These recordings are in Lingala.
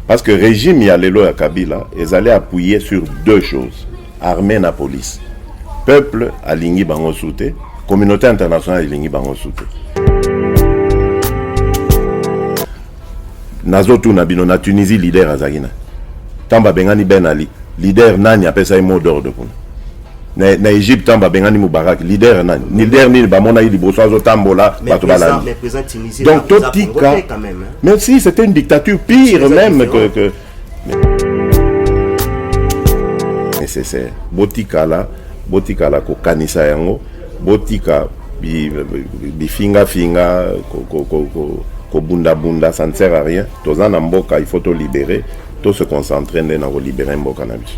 Parce que régime ya lelo ya Kabila ezali appuyer sur deux choses, armée na police. Peuple alingi bango su te, communauté internationale elingi bango su te. Nazotuna bino na Tunisie leader azalaki na ntango babengani Ben Ali, leader nani apesaki mot d'ordre kuna? na, na Egypte ntango babengani Mubarak leader nani leader nini bamona ye liboso azotambola bato balandi donc totika mais si c'était une dictature pire même que, que nécessaire botikala botikala kokanisa yango botika bifingafinga kobundabunda ça ne sert à rien toza na mboka il faut tolibere to se concentrer nde na kolibere mboka na biso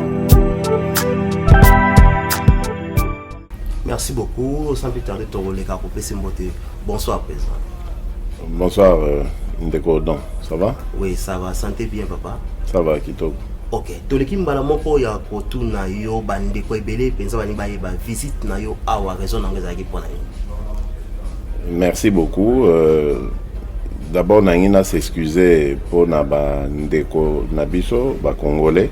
Merci beaucoup. Sans plus tarder, Tongoleka, pour PC Mbote. Bonsoir, président. Bonsoir, euh, Ndeko Don. Ça va Oui, ça va. Santé bien, papa Ça va, Kitoko. ok toleki mbala moko ya kotuna yo bandeko ebele mpenza balingi bayeba visite na yo awa raison na yango ezalaki mpo na nini merci beaucoup euh, d'abord nangi na s'excuse mpo na bandeko na biso bacongolais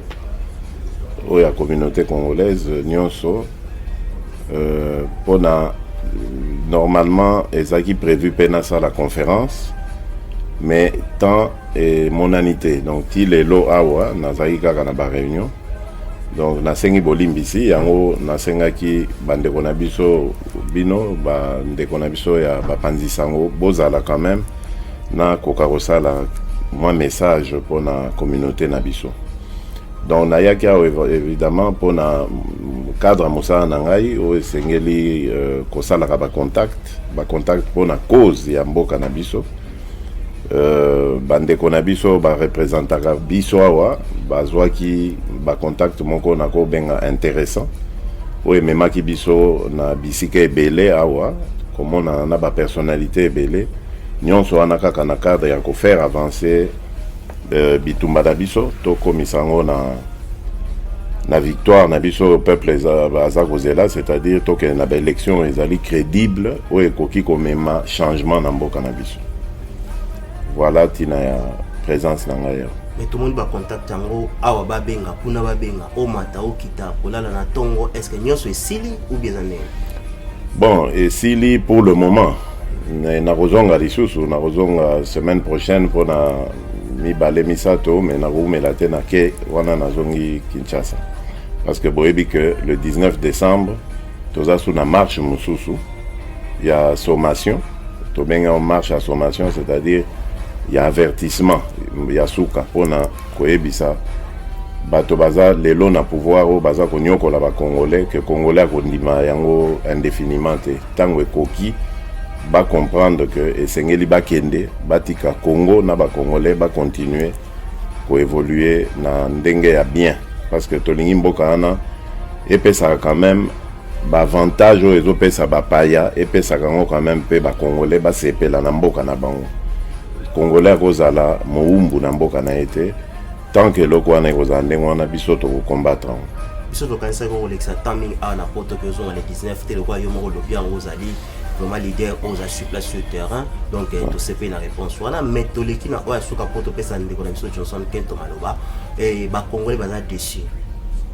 oyo ya communauté congolaise nionso euh, pona normalement ezalaki prévu mpe nasala conférence mais temps emonani te donc ti lelo awa nazalaki kaka na baréunion donc nasengi bolimbisi yango nasengaki bandeko na biso bino bandeko na biso ya bapanzi sango bozala quand même nakoka kosala mwa message mpo na communauté na biso donc nayaki awa évidemment mpo na cadre ya mosala na ngai oyo esengeli euh, kosalaka bacontact bacontact mpo na cause ya mboka na biso euh, bandeko na biso barepresentaka biso awa bazwaki bacontact moko na kobenga intéressant oyo ememaki biso na bisika ebele awa komonana na bapersonnalité ebele Nionso wana kaka na cadre ya ko faire avancer euh, bitumba na biso tokomisa yango na na victoire na biso oyo peuple aza kozela c'est-à-dire tokende na baélection ezali crédible oyo ekoki komema changement na mboka na biso voilà ntina ya présence na ngai awa mais tomoni bacontact yango awa babenga kuna babenga omata okita kolala na ntongo est ce que nyonso esili ou bien eza ndenge bon esili pour le moment nakozonga lisusu nakozonga semaine prochaine mpona mibale misato me nakowumela te na ke wana nazongi kinshasa parce que boyebi que le 19 décembre toza su na marche mosusu ya sommation tobengaka marche ya sommation c'est-à-dire ya avertissement ya suka mpona koyebisa bato baza lelo na pouvoir oyo baza konyokola bacongolais ke congolais akondima yango indefiniment te Tango ekoki ba comprendre que esengeli bakende batika Congo na ba Congolais ba continuer ko évoluer na ndenge ya bien parce que tolingi mboka wana epesaka quand même baavantage oyo ezopesa bapaya epesaka yango quand même mpe bacongolais basepela na mboka na bango congolais akozala mowumbu na mboka na ye te tant que eloko wana ekozala ndenge wana biso tokokombatre yango biso tokanisaki yango kolekisa temps mingi awa na poto ke ozonga le 19 te lokola yo moko olobi yango ozali vraiment leader oyo oza sur place sur terrain donc eh, tosepeli na réponse wana mais toleki na oyo asuka mpo topesa ndeko na biso johnson kento maloba eh, bacongolais baza déçu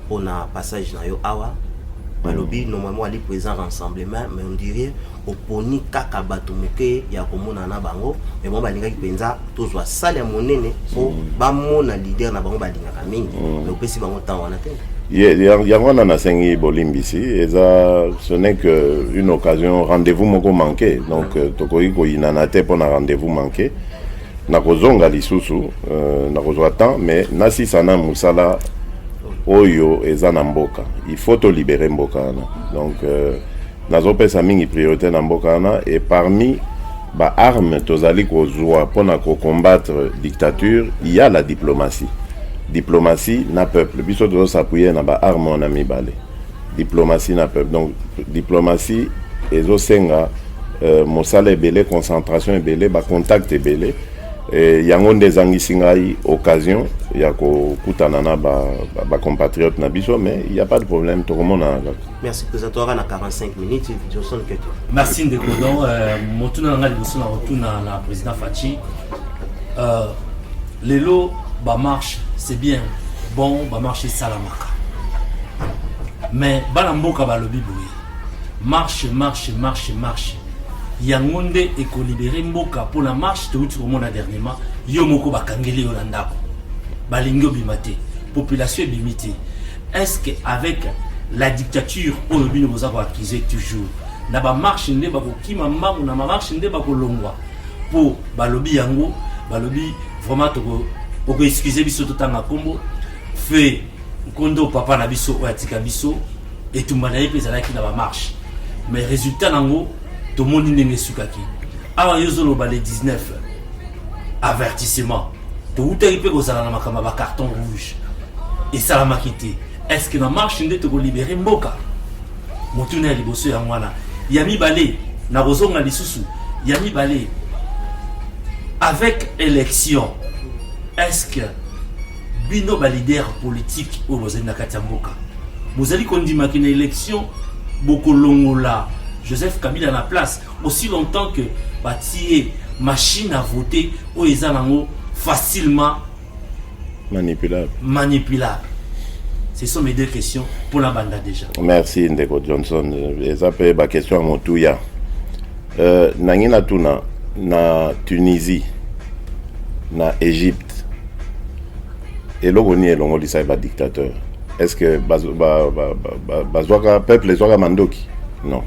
mpona passage na yo awa balobi mm. normalement ali présent rassemblement mais on dirait oponi kaka bato moke ya komonana na bango me bango balingaki mpenza tozwa sale ya monene mpo mm. bamona lider na bango balingaka mingi mm. me opesi bango ntango wana te yango wana nasengi bolimbisi eza ce n'est que une occasion rendez-vous moko manqué donc euh, tokoki koyinana te mpo na rendez-vous manqué nakozonga lisusu euh, nakozwa temps mais nasisa na mosala oyo eza na mboka il faut tolibere mboka wana donc euh, Nazo pesa mingi priorite na mboka wana et parmi ba armes tozali kozua pona ko combattre dictature il ya la diplomatie. Diplomatie na peuple biso tozo s'appuyer na ba armes wana mibale. Diplomatie na peuple donc diplomatie ezo senga euh, mosala ebele, concentration ebele, ba contact ebele. Et yango nde ezangisi ngai occasion ya kokutana na ba, ba, ba compatriotes na biso mais il y a pas de problème tokomonana kaka. merci président toyaka na 45 minutes johnson keto merci ndeko don euh, motuna na ngai liboso na kotuna na président faci euh, lelo bamarche c'est bien bon bamarche esalamaka mais bana mboka balobi boye marche marche marche marche yango nde ekolibere mboka mpo na marche touti komona dernièrement yo moko bakangeli yo na ndako balingi obima te population ebimi te Est-ce que avec la dictature oyo bino boza ko accuser toujours na ba marche nde bakokima mbangu na marche nde bakolongwa mpo balobi yango balobi vraiment toko okoexcuse biso totanga nkombo fe nkondo papa na biso oyo atika biso etumba na ye mpe ezalaki na bamarche mais résultat nango tomoni ndenge esukaki awa yo ozoloba le 19 avertissement towutaki mpe kozala na makambo ya bacarton rouge esalamaki te est ce que na marche nde tokolibere mboka motuna ya liboso yango wana ya mibale nakozonga lisusu ya mibale avec élection est ce que bino balider politique oyo bozali na kati ya mboka bozali kondimaki na élection bokolongola joseph kabila na place aussi longtemps que batie machine à voter oyo eza nango facilement manipulable manipulable ce sont mes deux questions pour la banda déjà merci ndeko johnson eza mpe baquestion ya motuya euh, nangi natuna na tunisie na égypte eloko nini elongolisaki badictateur est ce que bazwaka ba, ba, ba, ba, peuple ezwaka mandoki non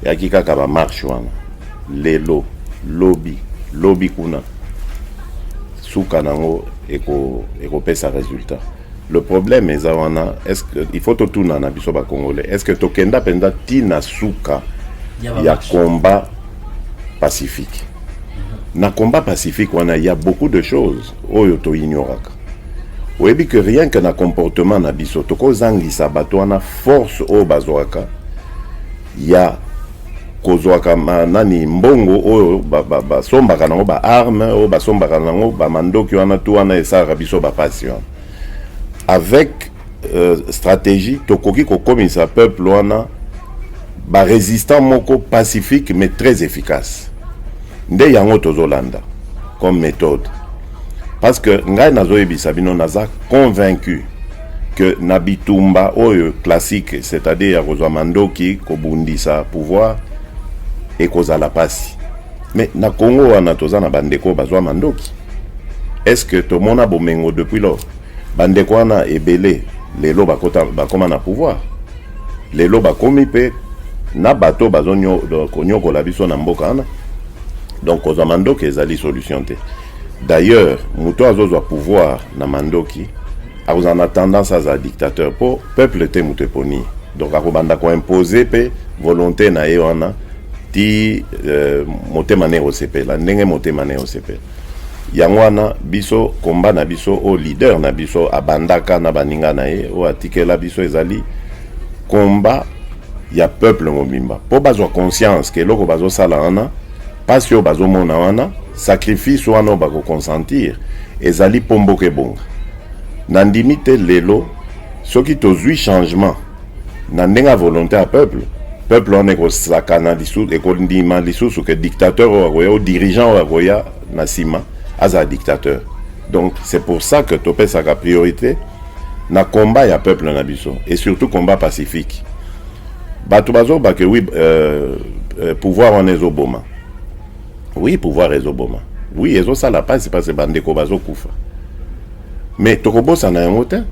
Eyaki kaka ba marche wana lelo lobi lobi kuna suka nango eko ekopesa resultat le problème eza wana est ce que il faut totuna na biso ba congolais est ce que tokenda mpenza ti na suka Ya ba ya marche. combat pacifique na combat pacifique wana il y a beaucoup de choses oyo toignoraka Oyebi que rien que na comportement na biso tokozangisa bato wana force oyo bazwaka ya kozwaka nani mbongo oyo basombaka nango baarme oyo basombaka nango bamandoki wana tu wana esalaka biso bapasi wana avec euh, stratégie tokoki kokomisa peuple wana ba résistant moko pacifique mais très efficace nde yango tozolanda comme méthode parce que ngai nazoyebisa bino naza convaincu que na bitumba oyo classique c'est-à-dire ya kozwa mandoki kobundisa pouvoir ekozala pasi mais na congo wana toza na bandeko bazwa mandoki est ce que tomona bomengo depuis lors Ba ndeko wana ebele lelo bakota bakoma na pouvoir. Lelo bakomi pe na bato bazo konyokola biso na mboka wana. Donc kozwa mandoki ezali solution te. D'ailleurs, moto azozwa pouvoir na mandoki akozala na tendance azala dictateur po peuple te moto eponi. Donc akobanda ko imposer pe volonte na ye wana ti euh, motema ne osepela ndenge motema ne osepela. yango wana biso komba na biso oyo leader na biso abandaka na baninga na ye oyo atikela biso ezali komba ya peuple mobimba mpo bazwa conscience ke eloko bazosala wana mpasi oyo bazomona wana sacrifice wana oyo bakoconsentir ezali mpo mboka ebonga nandimi te lelo soki tozwi changement na ndenge ya volonte ya peuple peuple wana ekosakana lisusu ekondima lisusu ke dictateur oyo akoya o dirigeant oyo akoya na nsima azala dictateur donc c'est pour ça que topesaka priorité na combat ya peuple na biso et surtout combat pacifique bato bazobake wi euh, euh, pouvoir wana ezoboma Oui pouvoir ezo boma. Oui ezo sala pasi pasi ba ndeko bazo kufa. Mais toko bosa na yango te.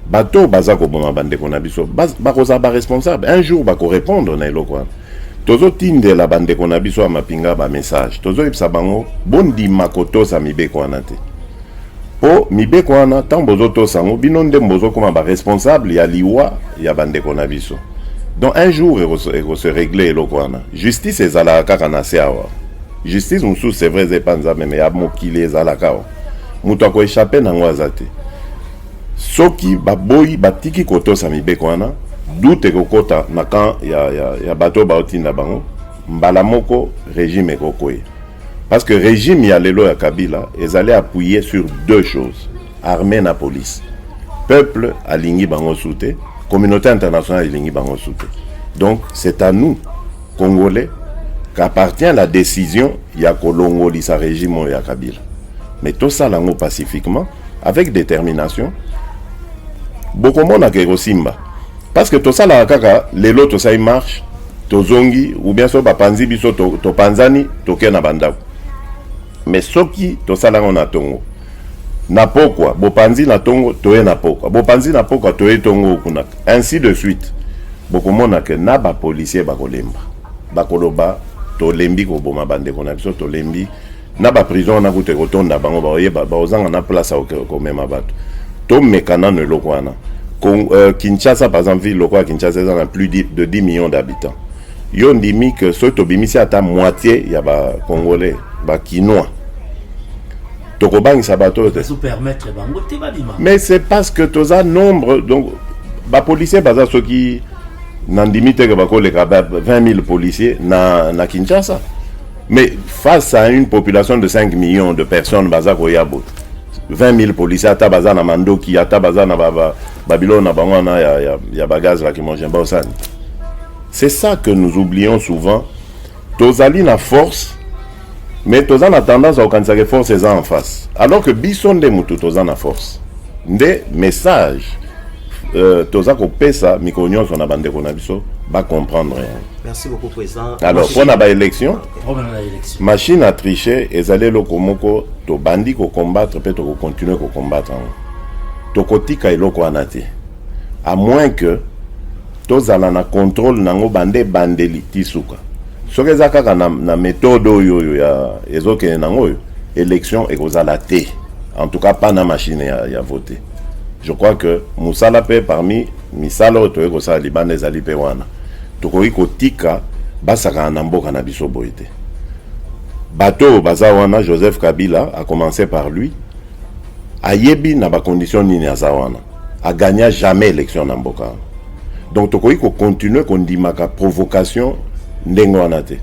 Bato baza ko boma ba ndeko na biso. Ba ko za ba responsable. Un jour ba ko répondre na eloko wana. Tozo tindela ba ndeko na biso ya mapinga ba message. Tozo yebisa bango bondima kotosa mibeko wana te. Po mibeko wana tango bozo tosa yango bino nde bozo koma ba responsable ya liwa ya ba ndeko na biso. Donc un jour eko se régler eloko wana. Justice ezalaka kaka na se awa. Justice mosusu c'est vrai eza epa Nzambe mais ya mokili ezalaka awa. Moto ako échapper nango aza te. Soki baboyi batiki kotosa mibeko wana doute ekokota na camp ya, ya, ya bato baotinda bango mbala moko regime ekokweya Parce que régime ya lelo ya Kabila ezali appuyer sur deux choses, armée na police. Peuple alingi bango soute, communauté internationale elingi bango soute. Donc c'est à nous Congolais qu'appartient la décision ya kolongolisa régime oyo ya Kabila. Mais tosala yango pacifiquement avec détermination. Bokomona ke ekosimba parce que tosalaka kaka lelo tosali marche tozongi ou bien soki bapanzi biso topanzani to tokei na bandako mais soki tosala yango na tongo na pokwa bopanzi na tongo toye na pokwa bopanzi na pokwa toye tongo kuna ainsi de suite bokomona ke na bapolisier bakolemba bakoloba tolembi koboma bandeko na biso tolembi na ba prison wana kutu ekotonda bango bakoyeba bakozanga na place ya komema bato tomeka nano eloko wana euh, kinshasa par exemple ville lokola kinshasa eza na plus de 10 millions d'habitants yo ndimi ke soki tobimisi ata moitié ya bacongolais bakinois tokobangisa bato te mais c'est parce que toza nombre donc bapolicier baza soki nandimi te ke bakoleka 20 000 policier na, na kinshasa Mais face à une population de 5 millions de personnes, baza koya boye. 20 000 policiers, ata baza na mandoki, ata baza na ba, ba, Babylone, na bango wana ya, ya, ya bagaz la kimongien baosani. C'est ça que nous oublions souvent. Tozali na force, mais toza na tendance à kokanisa que force eza en face. Alors que biso nde mutu toza na force. Nde message Euh, toza kopesa mikolo nyonso na bandeko na biso bacomprendre yango alors mpo na baélection machine à triche ezali eloko moko tobandi kocombattre mpe tokocontinue kocombattre yango tokotika eloko wana te à moins que tozala na contrôle na yango bande ebandeli ti suka soki eza kaka na, na méthode oyo oyo ya ezokende nango oyo élection ekozala te en tout cas pas na machine ya, ya vote Je crois que musala pe parmi misala oyo toyei kosala libanda ezali pe wana tokoki kotika basakana na mboka na biso boye te bato oyo baza wana joseph kabila a commencé par lui ayebi na bacondition nini aza wana agagna jamais élection na mboka wana donc tokoki kocontinue kondimaka provocation ndenge wana te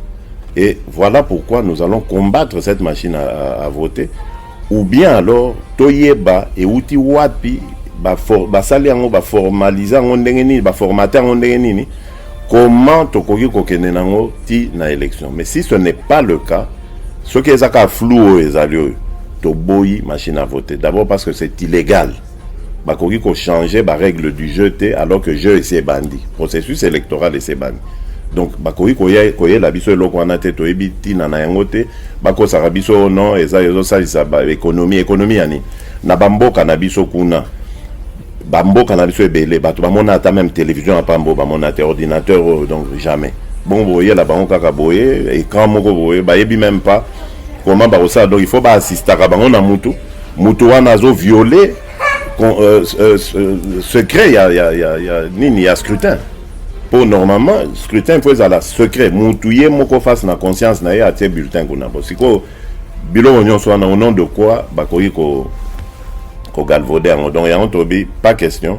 et voilà pourquoi nous allons combattre cette machine à, à, à voter Ou bien alors toyeba ewuti wapi basali yango baformalise yango ndenge nini baformate yango ndenge nini comment tokoki kokende nango ti na élection mais si ce n'est pas le cas soki eza kaka flou oyo ezali oyo toboyi machine à voter d'abord parce que c'est illégal bakoki ko changer ba règle du jeu te alors que jeu esi ebandi processus électoral esi ebandi donc bakoki koya koyela biso eloko wana te toyebi ntina na yango te bakosaka biso oh no eza ezosalisa baekonomi ekonomi ya nini na bamboka na biso kuna bamboka na biso ebele bato bamona ata meme télévision ya pambo bamona te ordinateur oyo oh, donc jamais bongo boyela bango kaka boye écran moko boye bayebi meme pas comment bakosala donc il faut baassistaka bango na mutu Moto wana azo violer euh, euh, euh, secret ya, ya, ya, ya nini ya scrutin mpo normalement scrutin mpo ezala secret mutu ye moko face na conscience na ye atie bulletin kuna mpo sikoyo biloko nyonso wana au nom de quoi bakoki ko kogalvaude yango donc yango tolobi pas question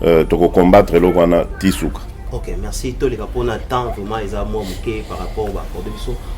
euh, tokocombattre eloko wana ti suka ok merci toleka mpona temps vraiment eza mwa moke par rapport baakorde biso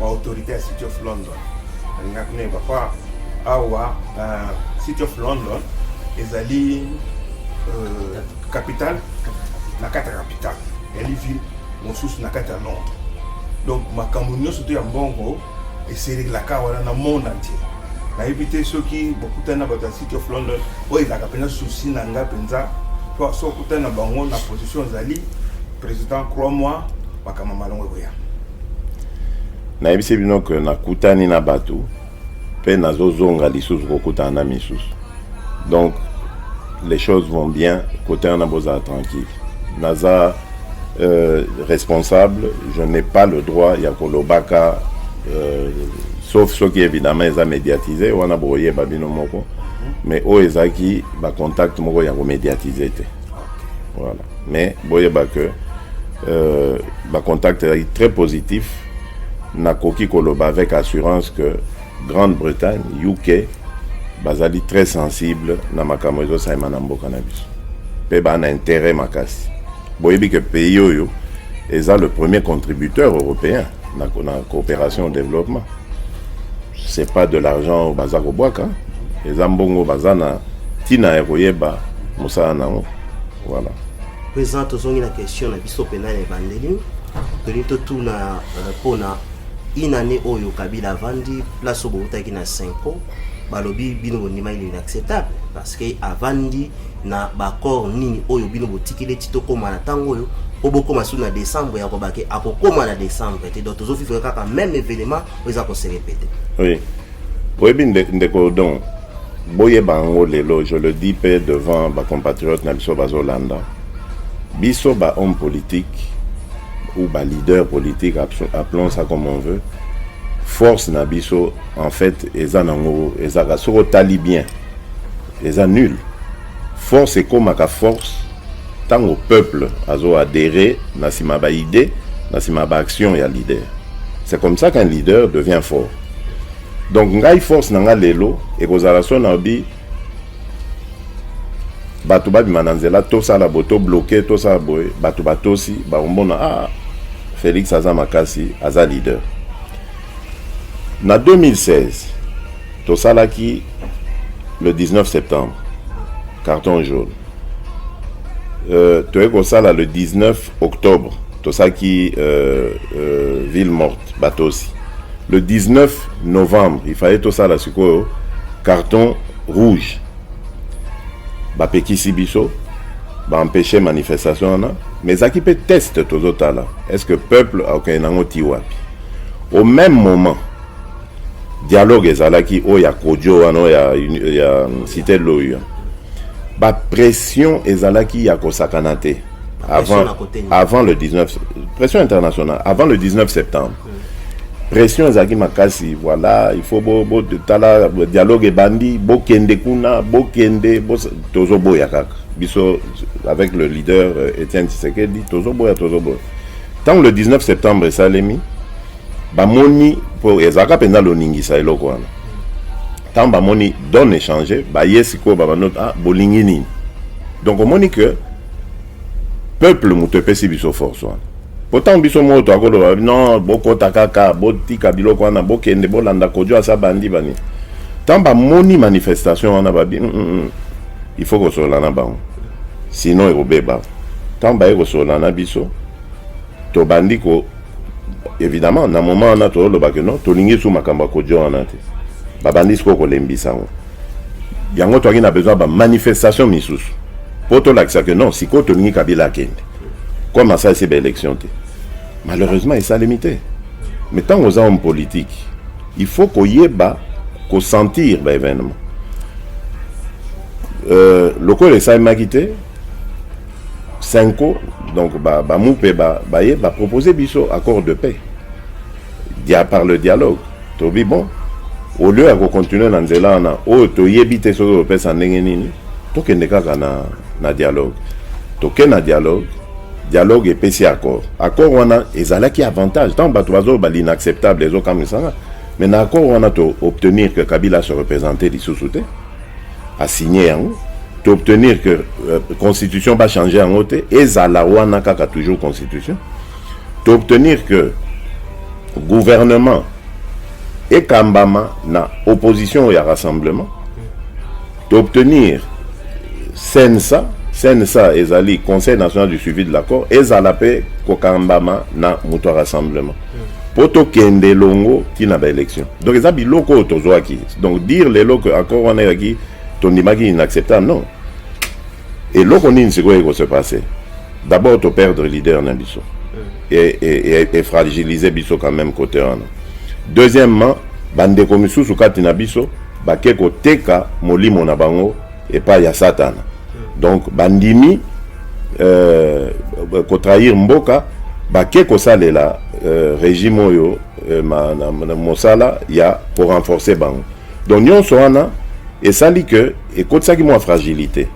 ba autorité ya city of london nalingaki nayeba mpa awa na city of london ezali euh, capitale na kati ya capitale ezali ville mosusu na kati ya londres donc makambo nyonso to ya mbongo eselelaka wana na monde entier nayebi te soki bokutani na bato ya city of london oyo ezalaka mpenza souci na ngai mpenza mpo soki okutani na bango na position ozali President crois moi makambo malongo ekoya. Nayebisi bino ke nakutani na bato mpe nazozonga lisusu kokutana na misusu donc les choses vont bien kote wana bozala tranquille naza euh, responsable je n'ai pas le droit ya kolobaka euh, sauf soki évidemment eza médiatise wana bokoyeba bino moko mais oyo ezalaki bacontact moko ya komédiatise te voilà Mais boyeba que euh, ba contact ezalaki très positif. Nakoki koloba avec assurance que Grande-Bretagne, UK bazali très sensible na makambo ezosalema na mboka na biso mpe baa na intérêt makasi boyebi ke pays oyo eza le premier contributeur européen na, na coopération au développement c'est pas de l'argent oyo baza kobwaka eza mbongo baza na ntina ya koyeba mosala na yango Voilà. Président tozongi na question na biso pena ya ebandeli tolingi totuna mpona euh, une année oyo kabila avandi place oyo bowutaki na cinco balobi bino bondimaki nini acceptable parce que avandi na baaccord nini oyo bino botikeli eti tokóma na ntango oyo mpo bokóma su na décembre ya kobake akokóma na décembre te donc tozofifre kaka même événement oyo eza koserepete oui. Oyebi ndeko Odon, boyeba yango lelo, je le dis pe devant ba compatriotes na biso bazolanda biso ba homme politique ou ba leader politique appelons ça comme on veut force na biso en fait eza nango ezaka soki otali bien Eza nul. Force ekomaka force tango peuple azo adherer na sima ba idee, na sima ba action ya leader. C'est comme ça qu'un leader devient fort. Donc ngai force na nga lelo ekozala so na bi bato babima na nzela tosala boye to bloke tosala boye bato batosi bakomona ah felix aza makasi aza leader Na 2016, tosalaki le 19 septembre carton jaune. Euh, toyei kosala le 19 octobre tosaki euh, euh, ville morte batosi le 19 novembre il fallait tosala sikoyo carton rouge bapekisi biso baempeshe manifestation wana mais ezalaki mpe test tozotala est ce que peuple akokende nango ti wapi Au meme moment dialogue ezalaki oyo ya Kodjo wana oyo ya, ya Cité Loyo, ba pression ezalaki ya kosakana te avant, avant le 19 pression internationale avant le 19 septembre pression ezalaki makasi voilà il faut bo, bo tala dialogue ebandi bokende kuna bokende bo, tozoboya kaka biso avec le leader euh, Etienne Tshisekedi tozoboya tozoboya Ntango le 19 septembre esalemi, bamoni mpo ezalaka mpenza loningisa eloko wana. Ntango bamoni donne echange, baye sikoyo babando ah, bolingi nini? Donc omoni que peuple moto epesi biso force wana mpo ntango biso moko toakoloba non bokota kaka botika biloko wana bokende bolanda kojo asa bandi bani ntango bamoni manifestation wana babi mm, mm, mm. Il faut kosolola na bango sinon ekobeba. Ntango baye kosolola na biso tobandi ko évidemment na moment wana tozoloba ke no tolingi su makambo ya kodio wana te babandi sikoyo kolembisa yango yango toyaki na besoin bamanifestation misusu mpo tolakisa ke non sikoyo tolingi kabila akende comme asalisi baélection te malheureusement esalemi te mais ntango oza homme politique Il faut koyeba ko sentir ba evenement euh, lokola esalemaki te cinco donc bamupe ba baye ba bapropose biso accord de paix Dia, par le dialogue tobi bon au lieu ya kocontinue na nzela wana oyo toyebi te soki topesa ndenge nini tokende kaka na, na dialogue toke na dialogue dialogue epesi accord accord wana ezalaki avantage ntango bato bazoloba l'inacceptable ezokamwisanga mais na accord wana to obtenir que kabila se représente lisusu te asigne yango to obtenir que euh, constitution bachange yango te ezala wana kaka toujours constitution to obtenir que gouvernement ekambama na opposition ya rassemblement To obtenir CNSA, CNSA ezali Conseil national du suivi de l'accord, ezala pe kokambama na moto ya rassemblement. mpo tokende elongo ti na baélection donc eza biloko oyo tozwaki donc dire lelo que accord wana eyaki tondimaki inacceptable non Eloko nini sikoyo eko se passer? D'abord to perdre leader na biso et, et, et, et fragiliser biso quand même côté wana. Deuxièmement, bandeko misusu kati na biso bake koteka molimo na bango epai ya satana donc bandimi euh, kotrahir mboka bake kosalela euh, régime oyo euh, ma, na, na, mosala ya korenforce bango donc nyonso wana esali ke ekotisaki mwa fragilité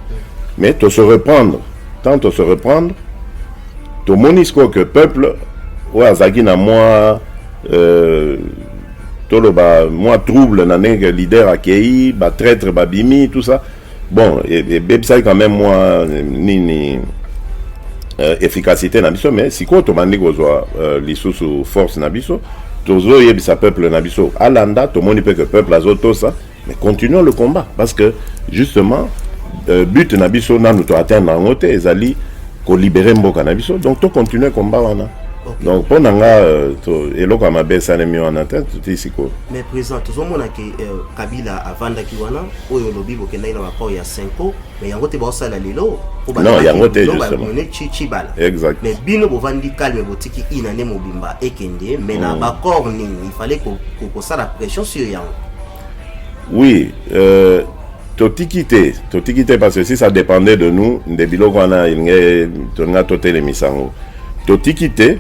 mais to se reprendre tant to se reprendre tomoni sikoyo que peuple oyo azalaki na mwa euh, toloba mwa trouble na ndenge leader akei batraitre babimi tout ça bon ebebisaki quand même mwa nini euh, efficacité na biso mais sikoyo tobandi kozwa euh, lisusu force na biso tozoyebisa peuple na biso alanda tomoni mpe que peuple azotosa Mais continuons le combat parce que justement euh, but na biso nanu to atteindre yango te ezali ko libérer mboka na biso donc to continuer combat wana. Okay. Donc mpo na nga euh, eloko ya mabe esalemi wana te totii sikoyo. Mais président tozomona ke euh, Kabila avandaki wana oyo olobi bokendaki na baport ya Senko mais yango te baosala lelo non yango te justement chibala exact mais bino bovandi calme botiki inane mobimba ekende mais na bacor nini il fallait kosala pression sur yango Oui, euh, totiki te totiki te parce que si ça dépendait de nous nde biloko wana elingi tolinga totelemisa yango totiki te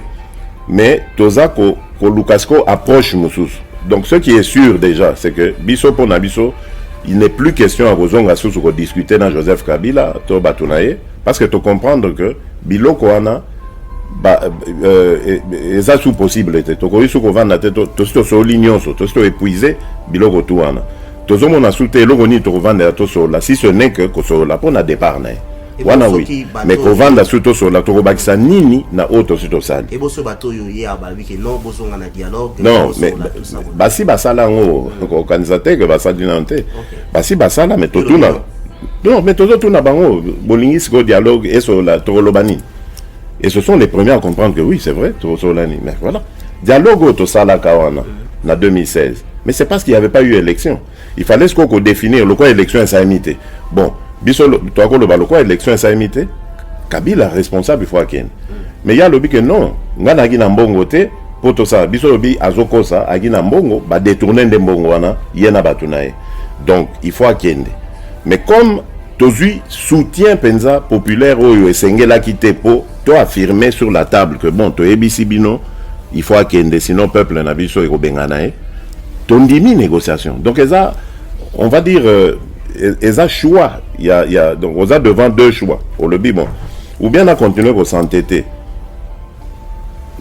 mais toza koluka sikoyo approche mosusu donc ce qui est sûr déjà c'est que biso mpo na biso il n'est plus question ya kozonga susu kodiscute na joseph kabila to bato na ye Parce que to comprendre que biloko wana ba euh, eza sous possible te tokoki sous kovanda te tosi tosoli nyonso tosi to épuise biloko tu wana tozomona su te eloko nini tokovandela tosolola si ce n'est que kosolola mpo na départ na ye wana oui mais kovanda su tosolola tokobakisa nini na oyo tosi tosali non mais basi basala yango okanisa te ke basali nano te basi basala me totuna non me tozotuna bango bolingi sikoyo dialogue esolola tokoloba nini et ce sont les premiers à comprendre que oui c'est vrai tokosolola nini mais voilà dialogue oyo tosalaka wana na 2016 mais c'est parce qu'il n'y avait pas eu élection il fallait sikoyo kodéfinir lokola élection esalemi te bon biso tokakoloba lokola élection esalemi te kabila responsable il faut akende mais ye alobi ke non ngai nayaki na mbongo te po tosala biso lobi azokosa aki na mbongo ba detourner nde mbongo wana ye na bato na ye donc il faut akende mais comme tozwi soutien mpenza populaire oyo esengelaki te mpo to affirme sur la table que bon toyebisi bino il faut akende sinon peuple na biso ekobengana ye tondimi négociation donc eza on va dire euh, e-, eza choix ya, ya donc oza devant deux choix olobi bon ou bien na continuer kosantete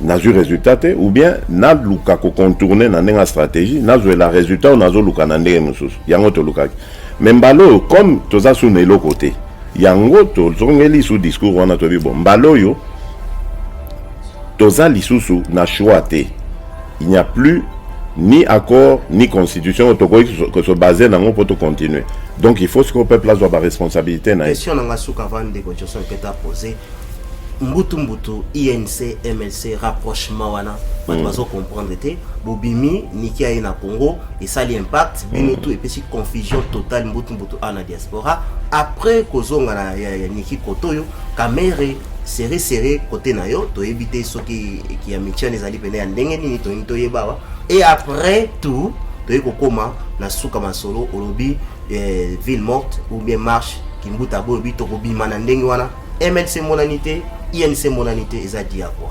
nazwi résultat te ou bien naluka kocontourne na ndenge ya stratégie nazwela résultat oyo nazoluka na ndenge mosusu yango tolukaki me mbala oyo comme toza su na eloko te yango tozongeli su discours wana toyebi bo mbala oyo toza lisusu na choix te il n'y a plus ni accord ni constitution oyo tokoki kosobase nango mpo tocontinue donc il faut sikoyo peuple azwa baresponsabilité na ye question na nga suka avant ndeko joson peta pose mbutu mbutu inc mlc rapprochement wana bato mm. bazo comprendre te bobimi niki aye na congo esali impact bino mm. tu epesi confusion totale mbutu mbutu a na diaspora après kozonga na ya, ya niki kotoyo kamere sere sere kote na yo toyebi te soki ya mitiane ezali pene ya ndenge nini tolingi toyebawa et après tout toyei kokóma na suka masolo olobi eh, ville morte ou bien marche kimbuta bolobi tokobima na ndenge wana MLC emonani te, INC emonani te, eza dia quoi.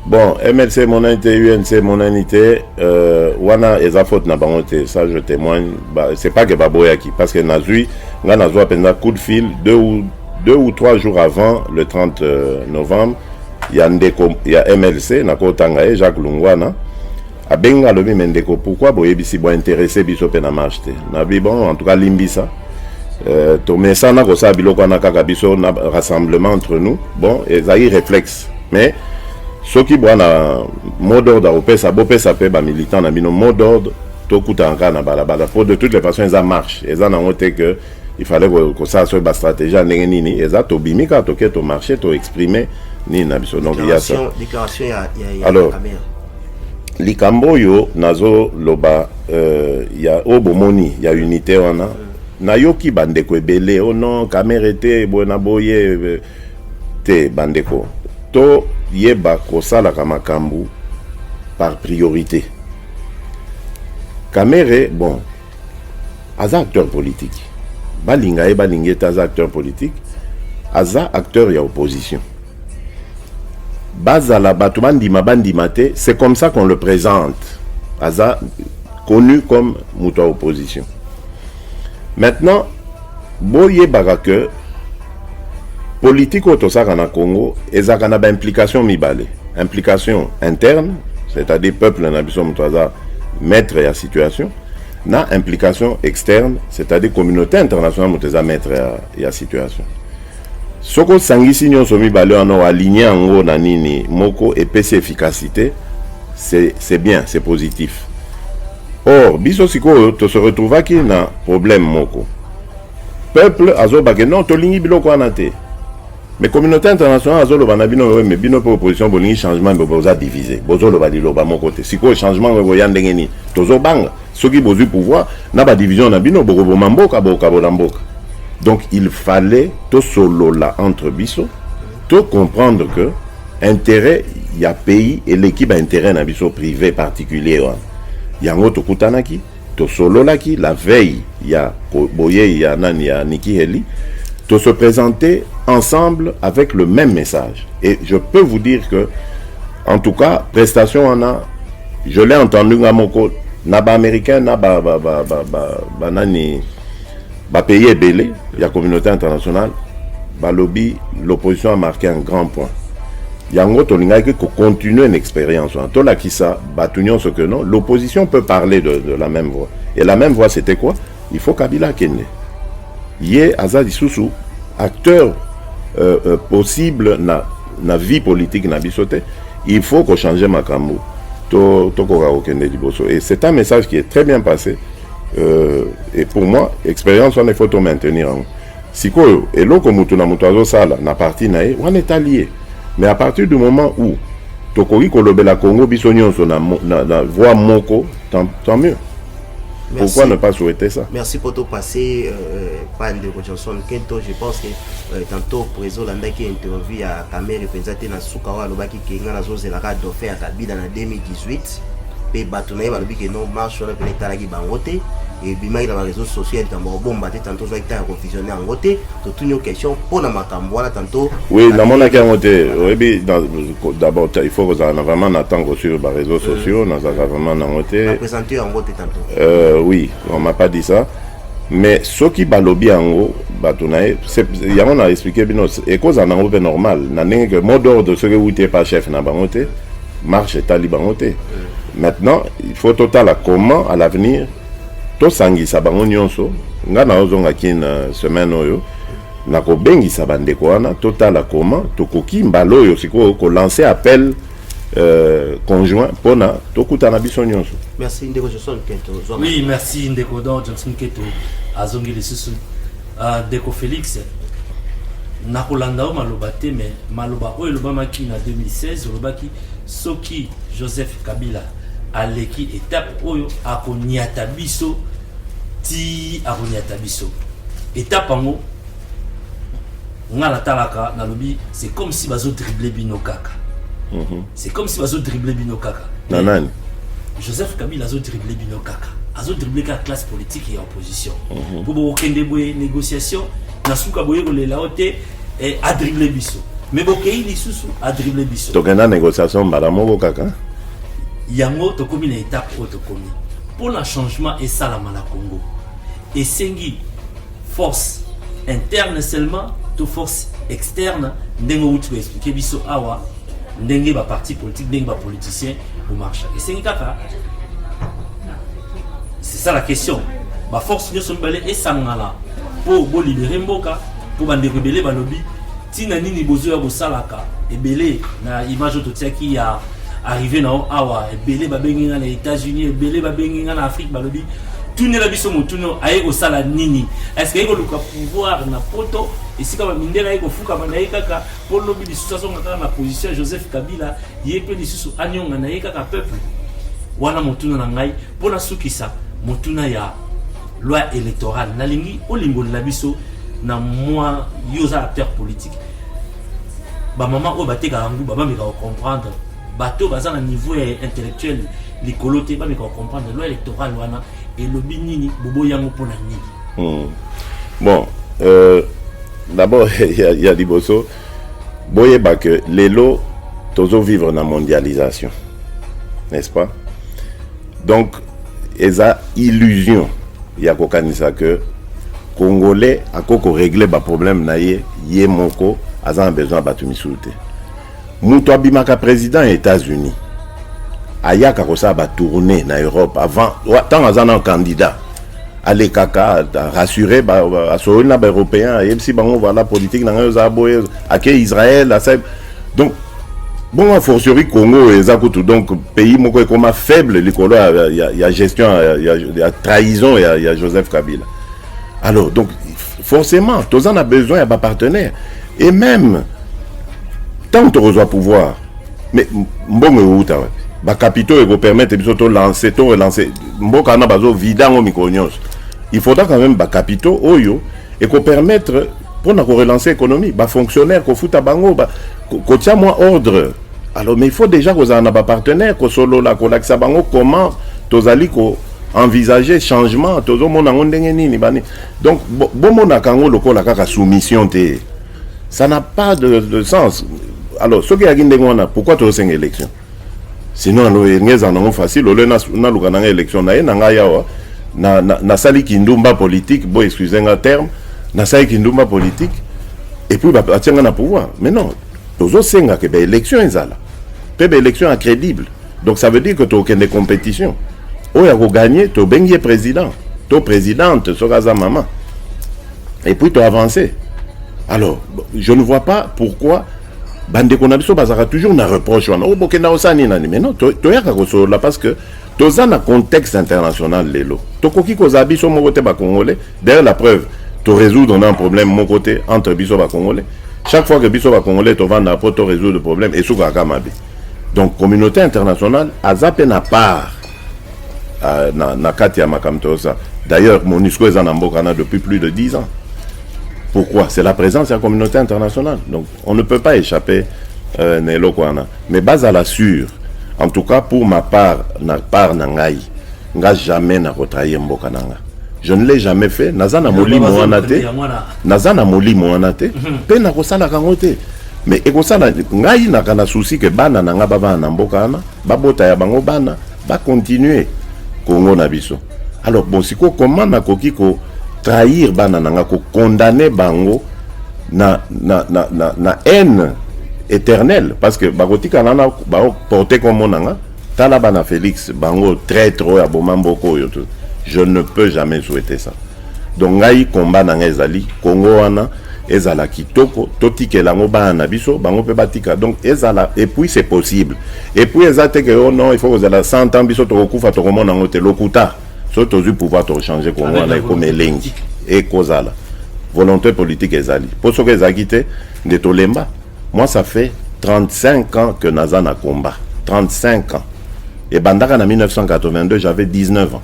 Bon, MLC emonani te, UNC emonani te, euh, wana eza faute na bango te, ça je témoigne, ba, c'est pas que baboyaki, parce que nazui, nga nazua penza coup de fil, deux ou, deux ou trois jours avant le 30 euh, novembre, ya ndeko ya MLC, nakotanga ye, Jacques Lungwana, Abenga alobi me ndeko pourquoi boyebisi bo interesse biso pe na marche te na bi bon en tout cas limbisa euh, tomesana kosala biloko wana kaka biso na rassemblement entre nous bon ezali réflexe mais soki bwana mot d'ordre akopesa bopesa pe bamilitant na bino mot d'ordre tokutana kaka na balabala po de toutes les façons eza marche eza nango te que il fallait kosala soki bastratégie ya ndenge nini eza tobimi kaka toke tomarche toexprime nini na biso donc ya ça alors likambo oyo nazoloba euh, ya oyo bomoni ya unité wana nayoki bandeko ebele o oh non kamere te boye na boye te bandeko toyeba kosalaka makambo par priorité kamere bon aza acteur politique balinga ye balinga ye te aza acteur politique aza acteur ya opposition bazala bato bandima bandima te c'est comme ça qu'on le présente aza connu comme moto ya opposition maintenant Boyebaka que politique oyo tosalaka na Congo ezalaka na ba implication mibale. Implication interne, c'est-à-dire peuple na biso moto aza maître ya situation na implication externe, c'est-à-dire communauté internationale moto eza maître ya, ya situation. Soko osangisi nyonso mibale wana oaligner yango na nini moko epesi efficacité, c'est bien, c'est positif. Or biso sikoyo to se retrouvaki na problème moko. Peuple azoba ke non tolingi biloko wana te. Mais communauté internationale azoloba na bino mais bino pe opposition bolingi changement mais boza divisé. Bozoloba liloba moko te. Sikoyo changement ngo ya ndenge nini? Tozobanga soki bozui pouvoir na ba division na bino bokoboma mboka bokabola mboka. Donc il fallait to solola entre biso to comprendre que intérêt ya pays eleki ba intérêt na biso privé particulier wana. yango tokutanaki tosololaki la veille ya boyei ya nani ya Nikki Haley to se présenter ensemble avec le même message et je peux vous dire que en tout cas prestation wana je l'ai entendu nga moko na ba américain na ba ba ba ba, ba, ba nani Ba pays ebele ya communauté internationale balobi l'opposition a marqué un grand point yango tolingaki kocontinue na expérience wana tolakisa bato nyonso que non l'opposition peut parler de, de la même voix et la même voix c'était quoi il faut kabila akende ye aza lisusu acteur euh, euh, possible na, na vie politique na biso te il faut kochanger makambo tokoka to kokende liboso et c'est un message qui est très bien passé Euh, et pour moi expérience wana ifo to maintenir yango sikoyo eloko moto na moto azosala na parti na ye wana etali ye mais à partir du moment où tokoki kolobela congo biso nyonso na, na, na voix moko tant, tant mieux Merci. Pourquoi ne pas souhaiter ça Merci pour tout passé, euh, Pan de Johnson Kento. Je pense que euh, tantôt, Prézo Landaki interview à Kamere Penzate Nasukawa Lobaki. ke nga nazozela kaka dauphin ya kabila na 2018 mpe bato na ye balobi ke non marche wana mpena etalaki bango te ebimaki na bareseau sociaux ya likambo kobomba te tanto ozwaki ntango ya kovisionne yango te totuni yo question mpo na makambo wana tanto oui namonaki yango te oyebi d'abord il faut kozala na vraiment na ntango kosuivre bareseau sociaux nazalaka vraiment nango te napresente yango te tanto euh, oui on m'a pas dit ça mais soki balobi yango bato na ye yango na explike bino ekozala nango mpe normal na ndenge ke mot d'ordre soki ewuti epa chef na bango te marche etali bango te maintenant il faut totala comment à l'avenir tosangisa bango nyonso ngai naozonga kine euh, semaine oyo nakobengisa bandeko wana totala comment tokoki mbala oyo sikoyo kolancer appel Euh, conjoint pona tokutana biso nyonso merci ndeko johnson nketo oui merci ndeko don johnson nketo azongi lisusu euh, ndeko félix nakolanda yo maloba te mais maloba oyo elobamaki na 2016 olobaki soki joseph kabila aleki etape oyo akonyata biso ti akonyata biso etape yango nga natalaka nalobi c'est comme si bazo dribble bino kaka mhm. c'est comme si bazo dribble bino kaka na nani joseph kabila azo dribble bino kaka azo dribble kaka classe politique ya opposition mhm. mpo bokokende boye négociation na suka boye kolela yo te eh, adribble biso mais bokei lisusu adribble biso tokenda négociation mbala moko kaka yango tokomi na étape oyo tokomi mpo na changement esalama na congo esengi force interne seulement to force externe ndenge outi koexplike biso awa ndenge baparti politique ndenge bapoliticien bomarcha esengi kaka c'est ça la question baforce nyonso mibale esangana mpo bolibere mboka mpo bandeko ebele balobi Tina nini bozo ya kosalaka ebele na image oyo totiaki ya arrive na yo awa ebele babengi nga na États-Unis ebele babengi nga na Afrique balobi tunela biso motuno aye kosala nini eske aye koluka pouvoir na poto esika bamindele aye kofukama na ye kaka mpo lobi lisusu azonga kaka na position ya joseph kabila ye mpe lisusu anyonga na ye kaka peuple wana motuna na ngai mpo nasukisa motuna ya loi électorale nalingi olimbolela biso na mwa yo oza acteur politique bamama oyo batekaka nguba bameka kocomprendre bato baza na niveau ya intellectuel likolo te bameka kocomprendre loi électorale wana elobi nini bobo yango mpo na nini hmm. bon euh, d'abord ya, ya liboso boyeba ke lelo tozovivre na mondialisation n'est-ce pas Donc eza illusion ya kokanisa que congolais ako ko régler ba problème na ye ye moko aza na besoin ya bato misusu te moto abimaka président ya états-unis ayaka kosala batourne na europe avant ntango aza na candidat alekaka rassure asololi na baeuropéen ayebisi bango voilà politique na ngai ozala boye ake israel asali donc bongo fortiori congo eza kutu donc pays moko ekoma faible likolo ya, ya, ya gestion ya, ya, ya trahison ya, ya joseph kabila alors donc forcément toza na besoin ya bapartenaire et même ntango tokozwa pouvoir mais mbongo ewuta wapi bacapitaux ekopermettre biso tolanse to relance mboka wana bazovida yango mikolo nyonso il faudra quand même bacapitaux oyo et ko permettre pour na ko relancer économie ba fonctionnaires ko futa bango ba ko tia moi ordre alors mais il faut déjà ko zana ba partenaires ko solo la ko lakisa bango comment tozali ko envisager changement tozo mona ngo ndenge nini bani donc bo, bo mona kango lokola kaka soumission te ça n'a pas de, de sens alors soki yaki ndenge wana pourquoi tozo senga élection sinon alo elingi ezala nango facile olio naluka nanga élection naye na ngai awa nasali kindumba politique bo excuse nga terme nasali kindumba politique et puis batie nga na pouvoir mais non tozosenga ke baélection ezala mpe baélection ya crédible donc ça veut dire que tokende compétition oyo akoganye tobengi ye président to présidente soki aza mama et puis toavance alors je ne vois pas pourquoi bandeko na biso bazalaka toujours na reproche wana obokenda oh, osala nini nani mais non toyaka kosolola parce que toza na contexte international lelo tokoki kozala biso moko te bacongolais d'ailleurs la preuve torésoudre na problème moko te entre biso bacongolais chaque fois que biso bacongolais tovanda mpo torésoudre problème esukaka mabe donc communauté internationale aza mpe na part euh, na, na kati ya makambo toyosa d'ailleurs monusco eza na mboka na depuis plus de 10 ans Pourquoi C'est la présence de la communauté internationale. Donc, on ne peut pas échapper euh, na eloko wana. Mais bazala sûr, en tout cas pour ma part, na part na ngai, nga jamais na retrahir mboka na nga. Je ne l'ai jamais fait, naza na molimo wana te, naza na molimo wana te, mhm. pe na kosala kango te. Mais ekosala ngai na kana souci que bana na nga ba bana na mboka wana, babota ya bango bana, ba continuer Congo na biso. Alors bon, siko comment nakoki ko trahir bana nanga ko condamner bango na na na na, na haine éternelle parce que bakotika nana ba porter comme nanga tala bana Félix bango traître oyo aboma mboko oyo je ne peux jamais souhaiter ça. Donc ngai combat na ngai ezali Congo wana ezala kitoko totikela yango bana na biso bango mpe batika donc ezala et puis c'est possible et puis eza te ke yo oh non il faut kozala 100 ans biso tokokufa tokomona yango te lokuta soki tozwi pouvoir tokochange kongo wana ekoma elengi ekozala volonté politique ezali mpo soki ezalaki te nde tolemba Moi ça fait 35 ans que naza na combat 35 ans ebandaka na 1982 j'avais 19 ans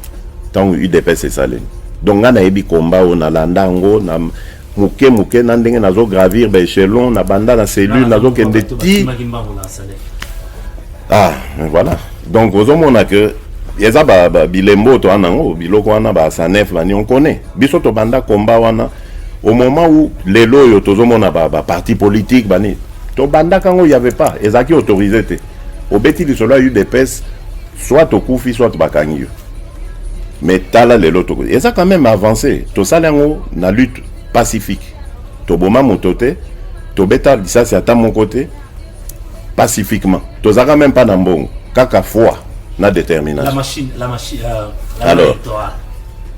ntango udps esalemi donc ngai nayebi combat oyo nalanda yango na moke moke na ndenge nazo gravir ba echelon na banda na cellule nazokende ti ah mais voilà donc ozomona que eza bilembo toa nango biloko wana ba sanef bani on connaît biso tobanda combat wana au moment où lelo oyo tozomona ba, ba parti politique bani tobandaka yango y avait pas ezalaki autorisé te obeti lisolo ya udps soit tokufi soit bakangi yo mais tala lelo toko eza quand même avancé tosala yango na lutte pacifique toboma moto te tobeta lisasi ata moko te pacifiquement tozalaka même pas na mbongo kaka foi na détermination la machine, la machine, euh, la alors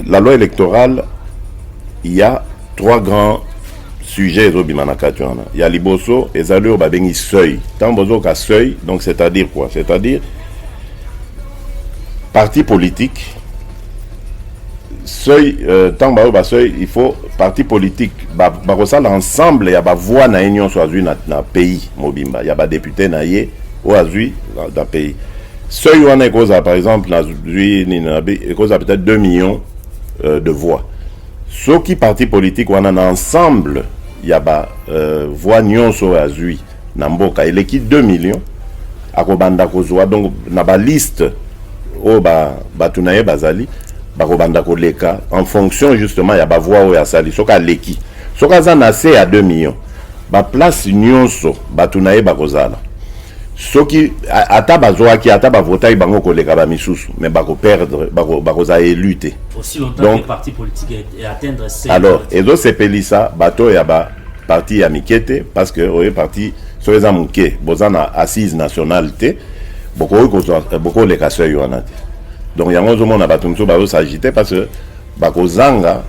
La loi electorale ya trois grands sujets ezobima na kati wana ya liboso ezali oyo babengi seuil ntango bozoka seuil donc c'est-à-dire quoi c'est-à-dire parti politique seuil euh, ntango bayo baseuil il faut parti politique bakosala ba ensemble ya bavoi na ye nyonso azwi na, na pays mobimba ya badepute na ye oyo azwi na, na pays seuil wana ekozala par exemple nazwi nini nabi ekozala peut-être 2 millions euh, de voix soki parti politique wana na ensemble ya ba euh, voix nyonso oyo azwi na mboka eleki 2 millions akobanda kozwa donc na baliste oyo ba, bato na ye bazali bakobanda koleka en fonction justement ya bavoi oyo asali soki aleki soki aza na se ya 2 millions baplace nyonso bato na ye bakozala soki ata bazwaki ata bavotaki bango koleka bamisusu mais bakoperdre bakozala élu te alors ezosepelisa bato oyo ya baparti ya mike te parce que oyo parti soki eza moke boza na assise nationale te bokoki bokoleka seuil wana te donc yango ozomona bato mosusu bazosagite parce que bakozanga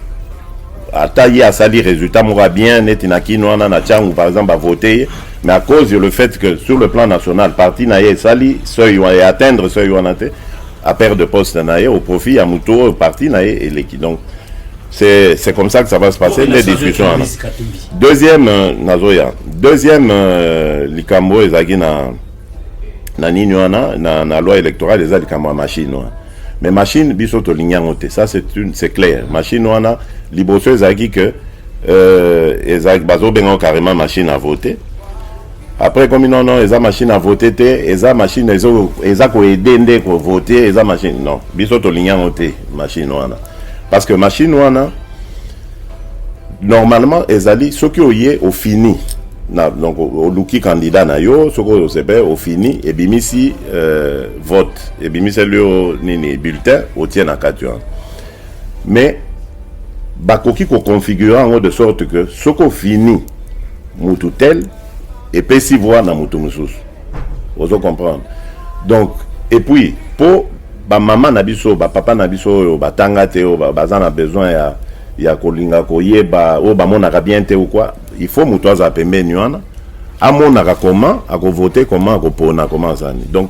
ata ye asali résultat moko ya bien neti na kino wana na tiangu par exemple bavote ye mais à cause le fait que sur le plan national parti na ye esali seuil wana e atteindre seuil wana te a perdre poste na ye au profit ya moto oyo parti na ye eleki donc c'est c'est comme ça que ça va se passer les discussions wana deuxième euh, nazoya deuxième euh, likambo ezalaki na na nini wana na, na loi électorale eza likambo ya machine wana mais machine biso tolingi yango te ça c'est une c'est clair machine wana liboso ezalaki que euh, ezalaki bazobenga carrément machine à voter après ekomi non non eza machine à voter te eza machine ezo eza koede nde kovote eza machine non biso tolingi yango te machine wana parce que machine wana Normalement ezali soki oye ofini na donc oluki candidat na yo soki osepe ofini ebimisi euh, vote ebimiseli yo nini bulletin otie na kati wana mais bakoki koconfigure yango de sorte que soki ofini mutu tel epesi voix na mutu mosusu ozo comprendre donc et puis po ba mama na biso ba papa na biso oyo batanga te oyo baza na besoin ya ya kolinga koyeba oyo bamonaka bien te ou quoi il faut moto azala pembeni wana amonaka comment akovote comment akopona comment azani donc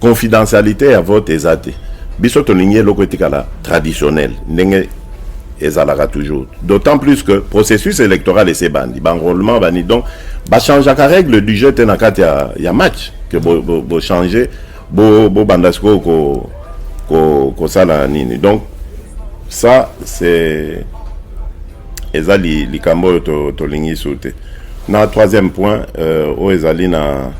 confidentialité ya vote eza te biso tolingi eloko etikala traditionnel ndenge ezalaka toujours d'autant plus que processus électoral ese bandi banrôlement bani donc bachangeaka règle du jeu te na kati ya, ya match ke bochange bo, bo, bo banda sikoyo ko, ko, kosala nini donc ça c'est eza likambo oyo tolingi to su te Na troisième point euh, oyo ezali na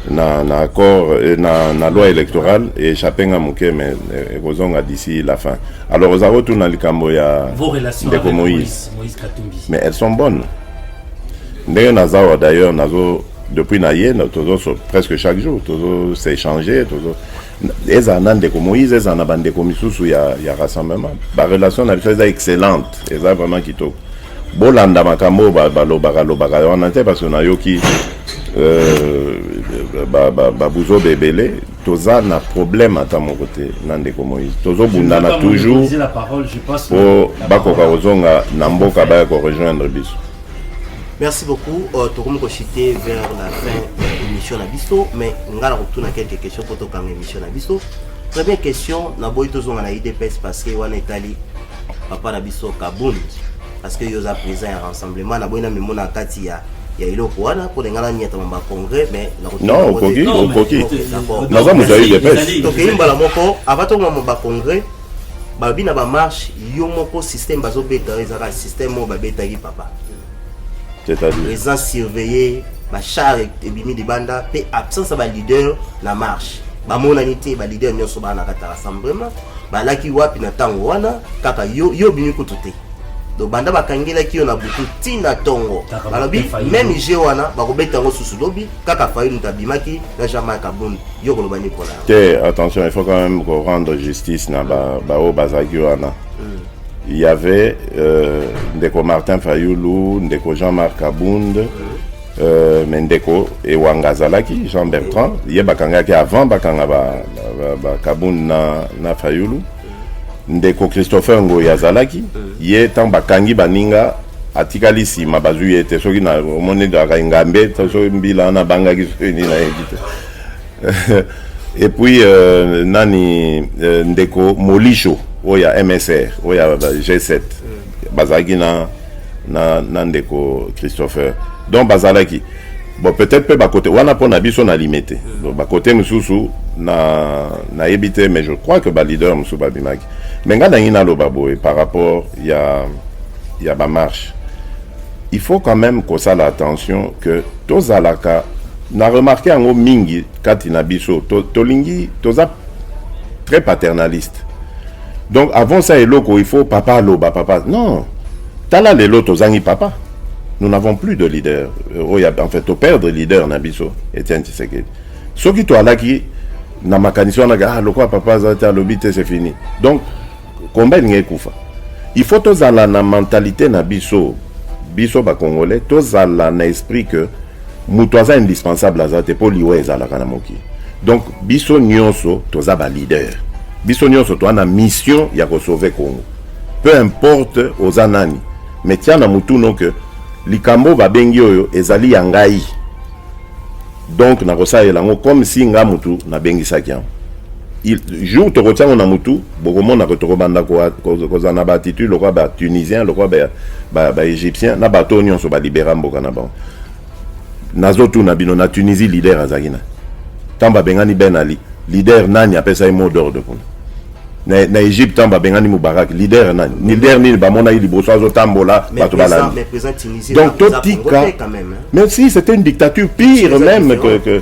na, na accord euh, na, na loi électorale echappe nga moke mais euh, ekozonga d'ici la fin alors oza kotuna likambo ya ndeko moïse mais elles sont bonnes ndenge naza awa d'ailleurs nazo depuis na ye tozo presque chaque jour tozo s'échanger tozo ezala na ndeko moïse ezala na bandeko misusu ya, ya rassemblement barelation na biso eza excellente eza vraiment kitoko bolanda makambo oyo balobaka lobaka wana te parce que nayoki euh, babuzoba ebele toza na problème ata moko te na ndeko moïse tozobundana toujours mpo bakoka kozonga na mboka baya korejoindre biso merci beaucoup uh, tokomi kochite vers la fin ya émission na biso mais ngai nakotuna quelques questions mpo tokanga émission na biso première question naboyi tozonga na idps parce que wana etali papa na biso kabund parce que yo oza président ya rassemblement naboyi na mimona kati ya ya eloko wana mpo ninga nanyatama bacongrès mais non okoki okoki naza moto ya idps tokei mbala moko avant tokoma bacongrès balobi na bamarche yo moko système bazobeta ezalaka système oyo babetaki papa présent surveillé bachar ebimi libanda mpe absence ya baleader na marche bamonani te baleader nyonso bana na kataka rassemblement balaki wapi na ntango wana kaka yo yo obimi kutu te donc banda bakangelaki yo na butu ti na ntongo balobi meme je wana bakobeta yango susu lobi kaka fayulu moto abimaki na jean marc abund yo koloba nini mpona te attention il faut quand même ko rendre justice na baoyo bazalaki wana hmm. il y avait euh, ndeko martin fayulu ndeko jean marc abund hmm. euh, me ndeko ewanga azalaki jean bertrand ye bakangaki avant bakanga bakabund ba, ba, na, na fayulu mm. Ndeko Christopher Ngoyi azalaki ye ntango bakangi baninga atikali nsima bazwi ye te soki na omoni ezalaka engambe to soki mbila wana abangaki soki nini nayebi te et puis euh, nani euh, ndeko molisho oyo ya msr oyo ya ba- g7 bazalaki na na, na ndeko christopher donc bazalaki bon peut-être mpe bakote wana mpo na biso na lime te bakote mosusu na nayebi te mais je crois que baleader mosusu babimaki mais ngai nangi naloba boye par rapport ya ya bamarche il faut quand même kosala attention que tozalaka na remarke yango mingi kati na biso tolingi to toza très paternaliste donc avant ça eloko il faut papa aloba papa non tala lelo tozangi papa nous n'avons plus de leader euh, oyo en fait toperdre leader na biso etienne tshisekedi soki toalaki na makanisi wana ah, lokola papa aza te alobi te c'est fini donc combat elingi ekufa il faut tozala na mentalité na biso biso bakongolais tozala na esprit que moto aza indispensable aza te mpo liwa ezalaka na mokili donc biso nyonso toza baleader biso nyonso toza na mission ya kosauve congo peu importe oza nani mais tia na motuno ke likambo babengi oyo ezali ya ngai donc nakosalela yango comme si nga motu nabengisaki yango jour tokotia yango na motu bokomona ke tokobanda kozala na baatitude lokola batunisien lokola baégyptien na bato oyo nyonso balibera mboka na bango Nazo tuna bino na Tunisie leader azaki na tamba bengani Ben Ali leader nani apesa ye mot d'ordre kuna na, na Egypte tamba bengani Mubarak leader nani ni leader nini bamona ye liboso azo tambola bato balandi donc totika mais si c'était une dictature pire même que, que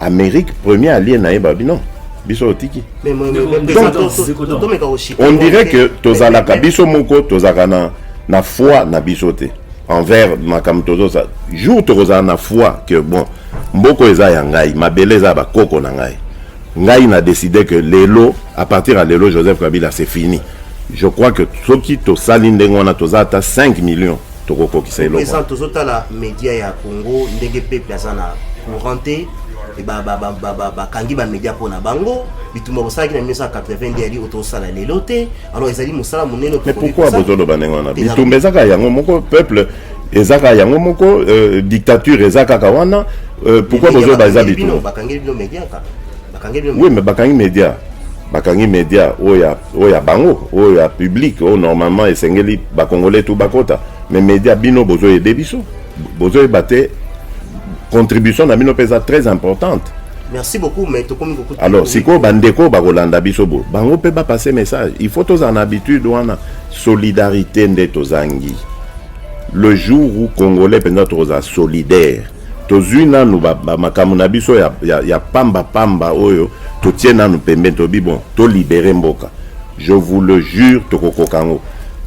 Amerique premier allié na ye babi non biso otiki on dirait que tozalaka biso moko tozalaka na na foi na biso te envers makambo tozosala jour tokozala na foi que bon mboko eza ya ngai mabele eza ya bakoko na ngai ngai na décide que lelo à partir ya lelo joseph kabila c'est fini je crois que soki tosali ndenge wana toza ata 5 millions tokokokisa eloko présent tozo tala media ya Congo ndenge peuple aza na courant te bakangi bamedia mpo na bango bitumba bosalaki na 1982 yali oyo tosala lelo te alors ezali mosala monene mais pourquoi bozoloba ndenge wana bitumba eza kaka yango moko peuple eza kaka yango moko euh, dictature eza kaka wana euh, pourquoi bozoloba eza bitumba oui mais bakangi media bakangi media oyo ya oyo ya bango oyo ya public oyo normalement esengeli bakongole tu bakota mais media bino bozoyede biso bozoyeba te contribution na bino mpe eza très importante merci beaucoup mais tokomi kokuta alors sikoyo bandeko bakolanda biso bo bango mpe bapasse message il faut tozala na habitude wana solidarité nde tozangi le jour où congolais mpenza tokozala solidaire tozwi nanu ba, ba makambo na biso ya, ya, ya pamba pamba oyo totie nanu pembeni tobi bon tolibere mboka je vous le jure tokokoka yango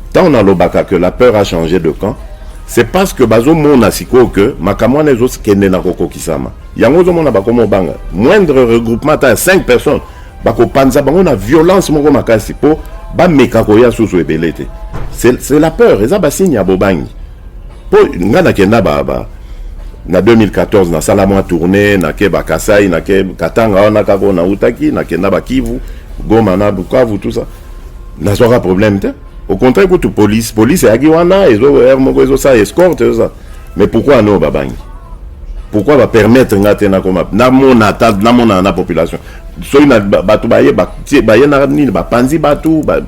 ntango nalobaka que la peur a changé de camp c'est parce que bazomona sikoyo que makambo wana ezokende na kokokisama yango ozomona bakoma obanga moindre regroupement ata ya 5 personnes bakopanza bango na violence moko makasi mpo bameka koya susu ebele te c'est la peur eza basigne ya bobangi Po nga na kenda ba ba na 2014 na sala mwa tournée na ke ba Kasai na ke Katanga wana kako na utaki na kenda ba Kivu Goma na Bukavu tout ça na zwaka problème te au contraire kutu police police ayaki wana ezo heure moko ezo sa escorte ezo sa mais pourquoi no ba bangi pourquoi ba permettre nga te na koma na mona ta na mona na population soki na bato baye ba baye na nini ba panzi bato ba, ba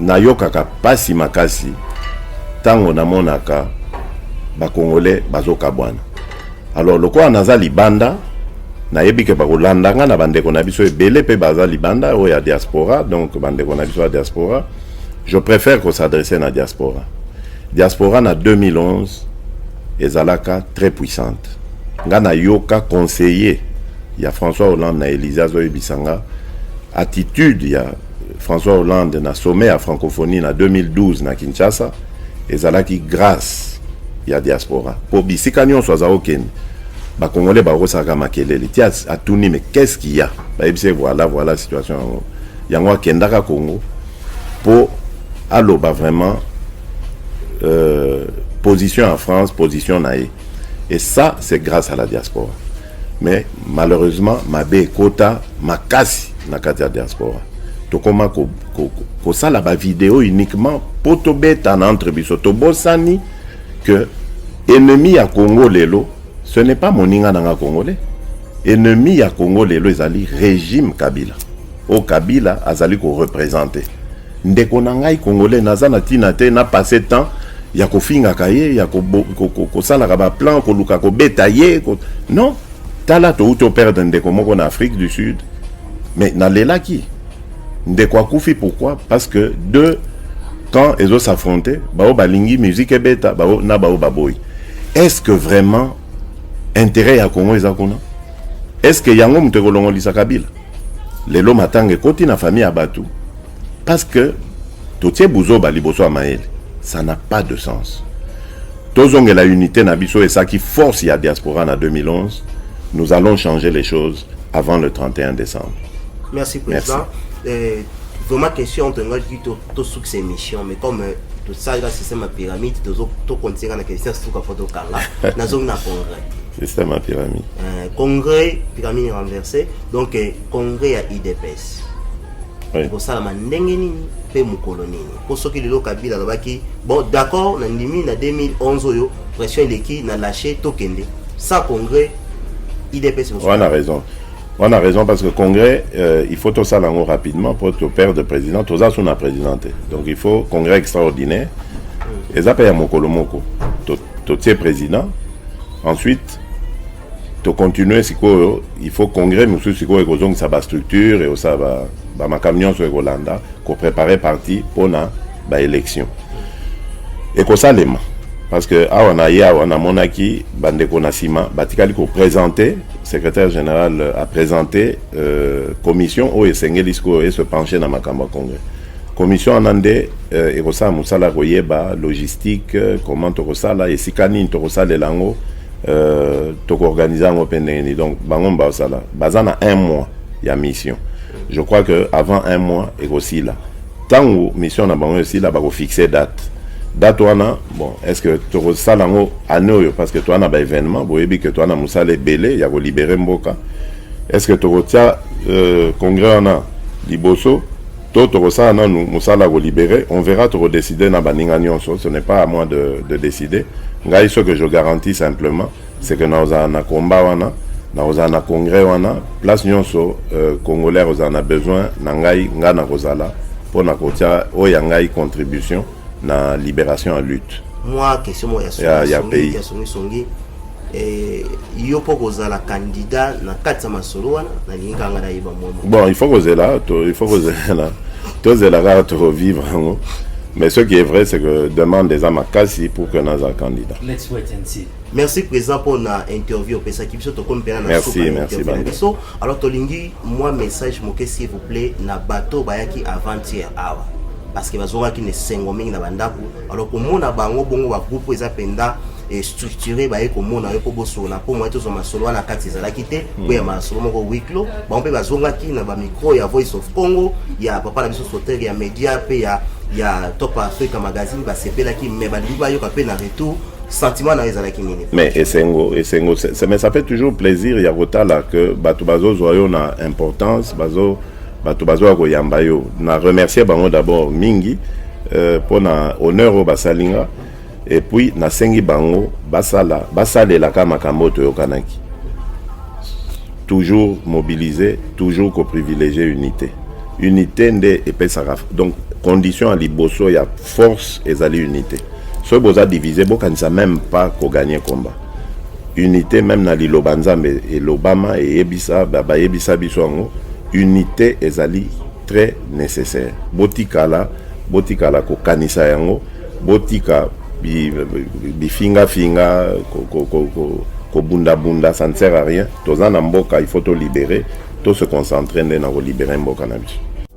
Nayokaka pasi makasi tango namonaka ba congolais bazokabwana. Alors lokola naza libanda nayebi ke bakolanda nga na bandeko na biso ebele mpe baza libanda oyo ya diaspora donc bandeko na biso ya diaspora je préfère ko s'adresser na diaspora diaspora na 2011 ezalaka très puissante nga nayoka conseiller ya françois hollande na élysée azoyebisa nga attitude ya François Hollande na sommet ya francophonie na 2012 na Kinshasa ezalaki grâce ya diaspora mpo bisika nyonso aza okende bakongole bakosalaka makelele ti atuni me qu'est-ce qu'il ya bayebisi ye voilà voilà situation yango yango akendaka congo mpo aloba vraiment euh, position ya france position na ye et ça c'est grâce à la diaspora Mais malheureusement mabe ekota makasi na kati ya diaspora tokoma ko, ko, ko, kosala ba video uniquement po tobetana entre biso tobosani que ennemi ya congo lelo ce n'est pas moninga nanga congolais ennemi ya congo lelo ezali régime kabila oyo kabila azali korepresente Ndeko na ngai congolais naza na tina te na passe temps ya kofingaka ye ya kosalaka baplan koluka kobeta ye ko... non tala touti operdre ndeko moko na afrique du sud mais nalelaki ndeko akufi pourquoi parce que deux camps ezo s'affronter baoyo balingi musique ebeta bao na baoyo baboyi est ce que vraiment intérêt ya congo eza kuna est ce que yango moto ekolongolisa kabila Lelo matanga ekoti na famille ya batu parce que totie buzoba liboso ya mayele. Ça n'a pas de sens. Tozongela unité na biso esaki force ya diaspora na 2011. Nous allons changer les choses avant le 31 décembre. Merci président. Euh, vraiment question tongaki tosuki sa émission mais comme euh, tosalaka système ya pyramide tozokontinue na question suka mpo tokanga nazongi na congrès C'est ça ma pyramide. Euh, congrès, pyramide renversée, donc euh, congrès ya IDPS. Oui. kosalama ndenge nini mpe mokolo nini mpo soki lelo kabila alobaki bon d'accord na ndimi na 2011 oyo pression eleki na lache tokende sa congrès idps wana raison wana raison parce que congrès euh, il faut tosala yango rapidement mpo toperdre président toza so na président te donc il faut congrès extraordinaire mm. eza mpe ya mokolo moko totie président ensuite tocontinue sikoyo il faut congrès mosusu sikoyo ekozongisa bastructure eosala bamakambo nyonso ekolanda koprépare parti mpona baélection ekosalema parce que awa na ye awa namonaki bandeko na nsima batikali koprésente secrétaire général apresente euh, commission oyo esengeli sikoyo ese penche na makambo ya congrès Commission wana nde euh, ekosala mosala ya koyeba logistique euh, comment tokosala esika nini tokosalela yango euh, tokoorganize yango mpe ndenge nini donc bango basala baza na un mois ya mission je crois que avant un mois ekosila ntango mission na bango esila bakofixe date date wana bon est ce que tokosala yango année oyo parce que toa na baévénement boyebi ke toa na mosala ebele ya kolibere mboka est ce que tokotia euh, congrès wana liboso To tokosala nanu musala ya ko libere on verra toko decider na baninga nionso ce n'est pas à moi de de decider ngai ce que je garantis simplement c'est que nakozala na combat wana nakozala na congrès wana place nionso congolais akozala na besoin na ngai ngai nakozala pona kotia oyo ya ngai contribution na liberation ya lutte mwa question moko ya, ya, pays ya songisongi eh, yo mpo kozala kandida na kati ya masolo wana nalingi kaka ngai nayeba mwa bon il faut kozela il faut kozela tozela kaka tovivre yango mais ce qui est vrai c'est que demande eza makasi pour que naza candidat Let's wait and see. Merci président pour na interview opesaki biso tokomi mpena na suka interview na biso alors tolingi mwa message moke s'il vous plaît na bato bayaki avant-hier awa parce que bazongaki na esengo mingi na bandako alors komona bango bongo bagroupe eza mpenza structuré baye komona yo mpo bosolola mpo moye tozwa masolo wana kati ezalaki te mpo hmm. ya masolo moko wiklo bango mpe bazongaki na bamicro ya voice of congo ya papa na biso sotere ya media mpe ya ya top africa magazine basepelaki me balingi bayoka mpe na retour sentiment na ezalaki nini mais esengo esengo mais ça fait toujours plaisir ya kotala que bato bazozwa yo na importance bazo bato bazoya koyamba yo na remercier bango d'abord mingi euh, mpo na honneur oyo basali nga et puis nasengi bango basala basalelaka makambo oyo toyokanaki toujours mobiliser toujours koprivilégie unité unité nde epesaka donc condition ya liboso ya Force ezali unite. Soki boza divise bokanisa meme pas ko gagner combat. Unite meme na liloba Nzambe elobama eyebisa bayebisa biso yango unite ezali très nécessaire. Botikala botikala kokanisa yango botika bifinga finga kobunda bunda ça ne sert à rien. Toza na mboka il faut to libérer to se concentrer nde na ko libérer mboka na biso.